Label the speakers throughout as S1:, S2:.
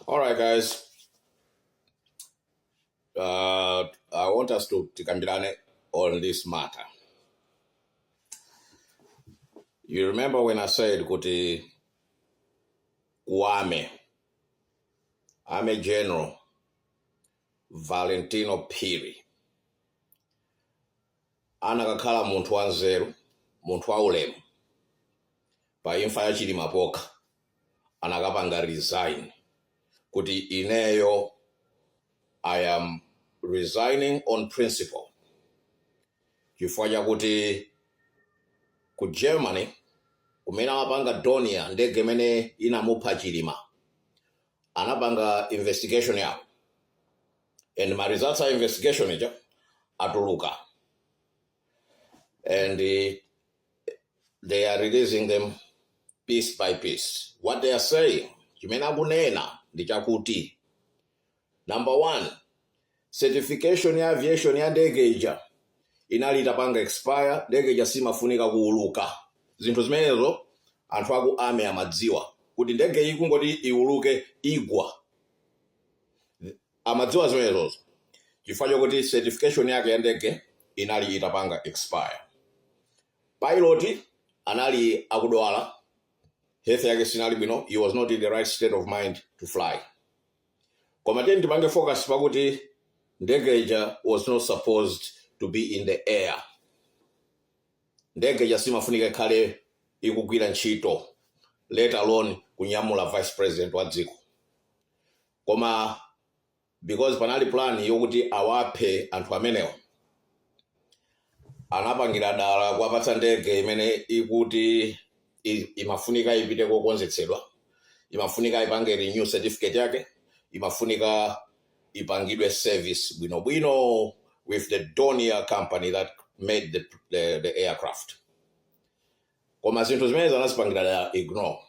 S1: All right, guys. Uh, I want us to tikambirane on this matter. You remember when I said kuti kuame, I'm a general, Valentino Piri. anakakhala munthu wanzeru, munthu wa ulemu, pa imfa ya Chilima pokha anakapanga resign kuti ineyo I am resigning on principle chifukwa chakuti ku Germany kumene amapanga Dornier ndege imene inamupha Chilima anapanga investigation yawo and ma results a investigation ija atuluka and eh, they are releasing them piece by piece what they are saying chimene akunena ndi chakuti number one certification ya aviation ya ndege ija inali itapanga expire ndege ija simafunika kuuluka zinthu zimenezo anthu aku army amadziwa kuti ndege iyi kungoti iuluke igwa amadziwa zimenezozo chifukwa chokuti certification yake ya ndege inali itapanga expire pilot anali akudwala health yake sinali bwino he was not in the right state of mind to fly koma tiyeni tipange focus pakuti ndege ija was not supposed to be in the air Ndege ija simafunika ikhale ikugwira ntchito let alone kunyamula vice president wa dziko. Koma because panali plan yokuti awaphe anthu amenewo, anapangira dala kuwapatsa ndege imeneyi kuti i- imafunika ipite kokonzetsedwa imafunika ipange renew certificate yake imafunika ipangidwe service bwinobwino with the Dornier company that made the, the, the aircraft koma zinthu zimenezi anazipangira dala ignore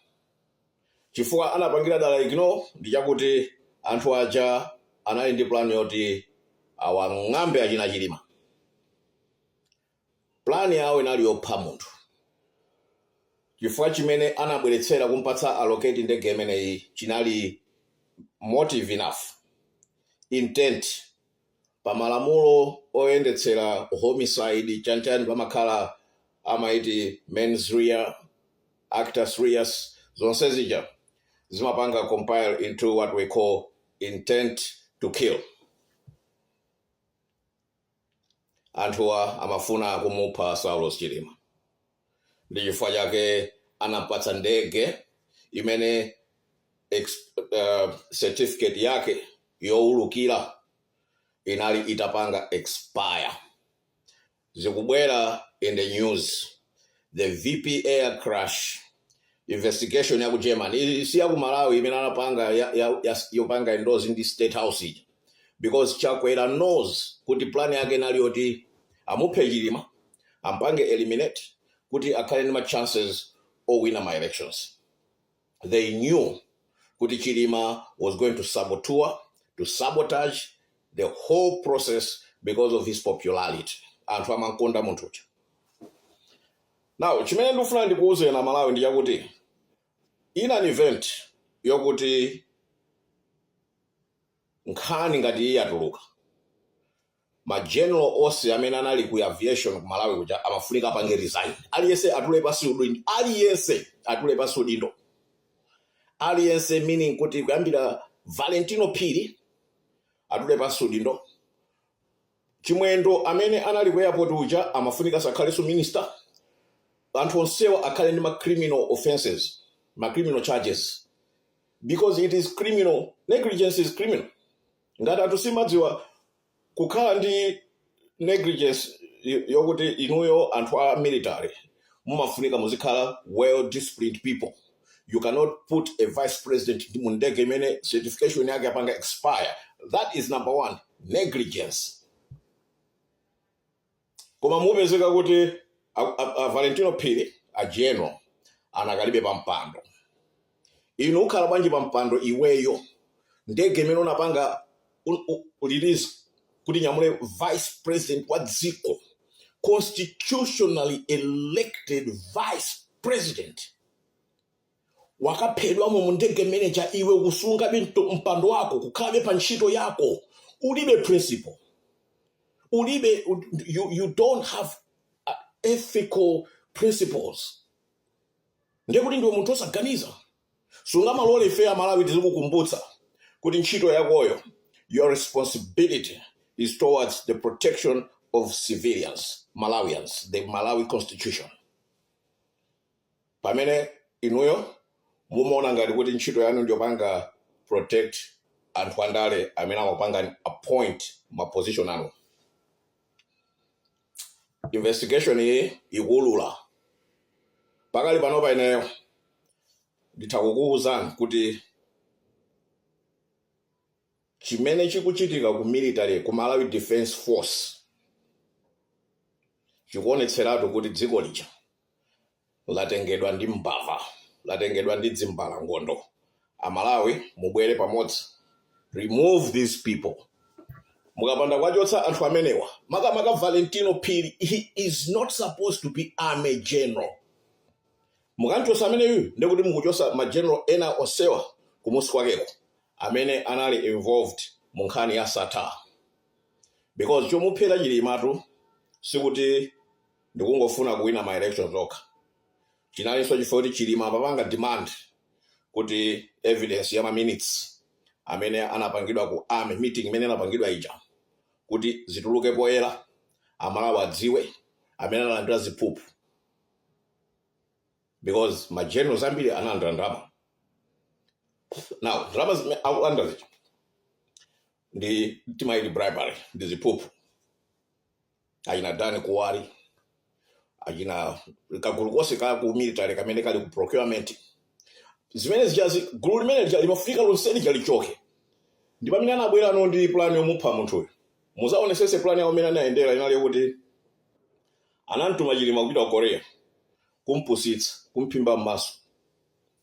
S1: chifukwa anapangira dala ignore ndi chakuti anthu aja anali ndi plan yoti awang'ambe achina Chilima Plan yawo inali yopha munthu. Chifukwa chimene anabweretsera kumpatsa allocate ndege imeneyi chinali motive enough, intent pa malamulo oyendetsera homicide chanichani pamakhala amaiti mens rea, actus reus zonse zija zimapanga compile into what we call intent to kill. Anthuwa amafuna kumupha Saulos Chilima ndi chifukwa chake anampatsa ndege imene ex, uh, certificate yake yowulukira inali itapanga expire. Zikubwera in the news the vp air crash investigation ya ku germany Ili si ya ku malawi imene anapanga ya, ya, ya, yopanga endorse ndi state house ija because chakwera knows kuti plan yake inali yoti amuphe chilima ampange eliminate kuti akhale ndi ma chances owina ma elections they knew kuti Chilima was going to saboteur, to sabotage the whole process because of his popularity. Anthu amankonda munthu uja. Now, chimene ndikufuna ndikuwuzeni aMalawi ndi chakuti in an event yokuti nkhani ngati iyi yatuluka Ma general onse amene anali ku aviation ku Malawi kuja amafunika apange resign. Aliyense atule pansi udindo. Aliyense atule pansi udindo. Aliyense meaning kuti kuyambira Valentino Phiri atule pansi udindo. Chimwendo amene anali ku airport uja amafunika sakhalenso minister. Anthu onsewa akhale ndi ma criminal offenses, ma criminal charges because it is criminal, negligence is criminal. Ngati anthu simumadziwa kukhala ndi negligence yokuti inuyo anthu a military mumafunika muzikhala well disciplined people, you cannot put a vice president ndi mu ndege imene certification yake yapanga expire, that is number one, negligence. Koma mukupezeka kuti a, a, a Valentino Phiri a General anakalibe pa mpando. Ino ukhala bwanji pa mpando iweyo? Ndege imene unapanga un- u- u- release kuti inyamule vice president wa dziko constitutionally elected vice president wakaphedwamo mu ndege m'menemo iwe ukusungabe mto- mpando wako kukhalabe pa ntchito yako ulibe principle ulibe you, you don't have uh, ethical principles ndiye kuti ndiwe munthu osaganiza sungamalole ife amalawi tizikukumbutsa kuti ntchito yakoyo your responsibility is towards the protection of civilians malawians the malawi constitution pamene inuyo mumaona ngati kuti ntchito yanu ndiyopanga protect anthu andale amene amakupangani appoint ma position anu investigation iyi ikuulula pakali panopa ineyo nditha kukuwuzani kuti chimene chikuchitika ku military ku malawi defense force chikuonetseratu kuti dziko lija latengedwa ndi mbava, latengedwa ndi dzimbalangondo. A Malawi mubwere pamodzi, remove these people. Mukapanda kuwachotsa anthu amenewa, makamaka Valentino Phiri, he is not supposed to be army general. Mukamchotsa ameneyu ndi kuti mukuchotsa ma general ena onsewa kumusi kwakeko amene anali involved mu nkhani ya Sattar. Because chomuphera Chilimatu sikuti ndikungofuna kuwina ma elections okha chinalinso chifukwa kuti chilima amapanga demand kuti evidence ya ma minutes amene anapangidwa ku army meeting imene anapangidwa ija kuti zituluke poyera amalawi adziwe amene analandira ziphuphu because ma generals ambiri analandira ndalama now ndalama akulandira zija ndi timaiti bribery ndi ziphuphu achina dan kuwali achina kagulu konse ka ku military kamene kali ku procurement zimene zijazi gulu limene limafunika lonse lija lichoke ndi pamene anabwera no ndi plan yomupha munthuyo muzaonesese plan yawo imene anayendera inali yokuti anamtuma chilima kupita ku korea kumpusitsa kumphimba m'maso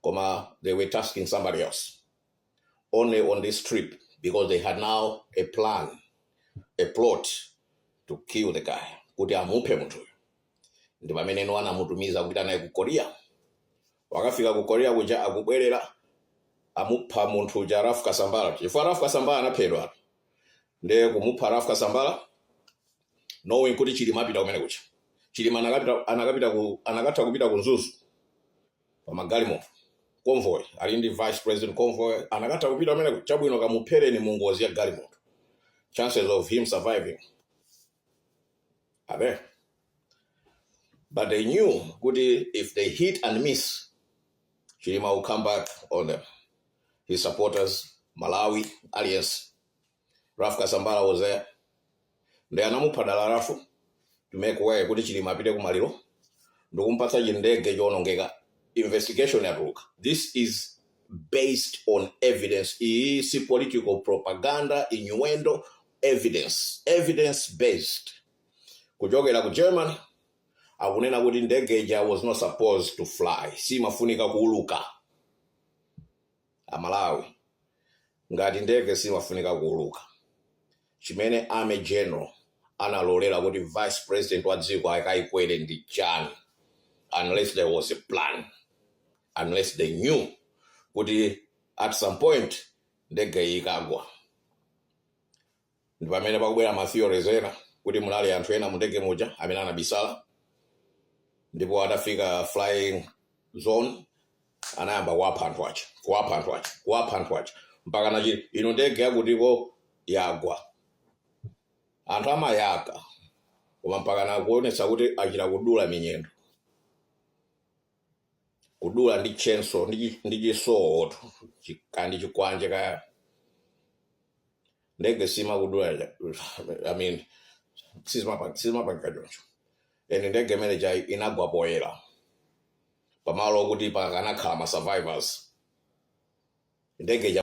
S1: koma they were tasking somebody else only on this trip because they had now a plan a plot to kill the guy kuti amuphe munthuyo ndi pamene no anamutumiza kupita naye ku korea wakafika ku korea kuja akubwerera amupha munthu uja ralph kasambala chifukwa ralph kasambala anaphedwa ndiye kumupha ralph kasambala knowing kuti chilima apita kumene kuja chilima anakatha kupita ku mzuzu pamagalimoto convoy ali ndi vice president convoy anakatha kupita kumene kuja chabwino kamuphereni mu ngozi ya galimoto chances of him surviving are there but they knew kuti if they hit and miss chilima will come back on them his supporters malawi alliance Ralph Kasambala was there. Ndiye anamupha dala Ralph to make way kuti Chilima apite ku maliro ndikumpatsa chindege choonongeka. Investigation yatuluka. This is based on evidence. Iyi si political propaganda, innuendo, evidence. Evidence based. Kuchokera ku Germany akunena kuti ndege ija was not supposed to fly. Simafunika kuuluka. Amalawi ngati ndege simafunika kuuluka chimene army general analolera kuti vice president wa dziko akaikwere ndi chani unless there was a plan unless they knew kuti at some point ndege iyi ikagwa. ndi pamene pakubwera ma theories ena kuti munali anthu ena mundege muja amene anabisala ndipo atafika flying zone anayamba kuwapha anthu aja kuwapha anthu aja kuwapha anthu aja mpaka na Chilima inu ndege yakuti ikagwa anthu amayaka koma mpaka nakuonesa kuti achita kudula minyendo kudula ndi chenso ndi chi- ndi chisowotu chi- kaya ndi chikwanje kaya ndege simakudula ja- i mean sizimapa- sizimapangika choncho and ndege imene ija inagwa poyera pamalo okuti pakanakhala ma survivors ndege